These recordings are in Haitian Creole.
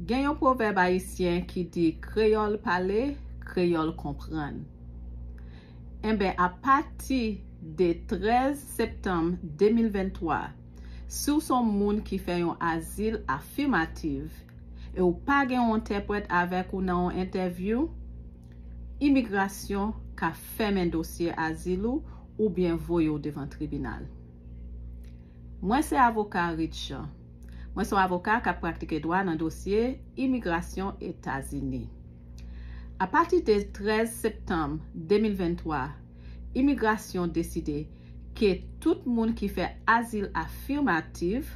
Gen yon pwovèb ayisyen ki di kreyòl pale, kreyòl konprann. Enben, apati de 13 septanm 2023, si w s on moun ki fè yon azil afimativ e w pa gen yon entèprèt avèk ou nan yon entèvyou, imigrasyon ka fèmen dosye azil ou oubyen voye w devan tribinal. Mwen se avoka Ritch Jean. Mwen son avoka k ap praktike dwa nan dosye imigrasyon Etazini. Apati de 13 septanm 2023, imigrasyon deside ke tout moun ki fè azil afirmativ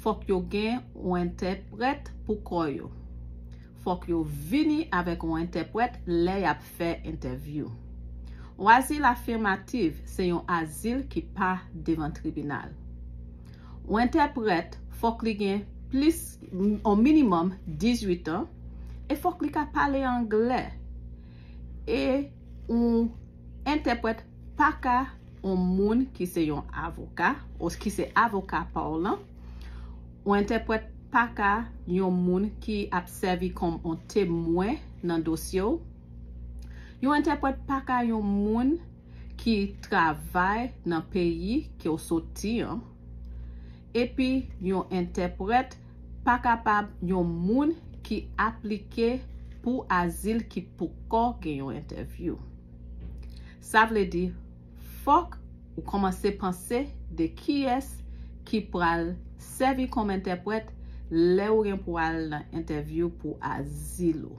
fòk yo gen yon entèprèt pou kò yo. Fòk yo vini avèk yon entèprèt lè y ap fè entèvyou. Yon azil afirmativ se yon azil ki pa devan tribinal. Yon entèprèt fòk li gen plis yon minimòm 18 an e fòk li ka pale anglè e yon entèprèt pa ka yon moun ki se yon avoka ou ki se avoka pa w lan yon entèprèt pa ka yon moun ki ap sèvi kòm yon temwen nan dosye w yon entèprèt pa ka yon moun ki travay nan peyi ke w soti an, epi yon entèprèt pa kapab yon moun ki aplike pou azil ki poko gen yon entèvyou. Sa vle di fòk ou kòmanse panse de kiyès ki pral sèvi kòm entèprèt lè ou gen pou al nan entèvyou pou azil ou.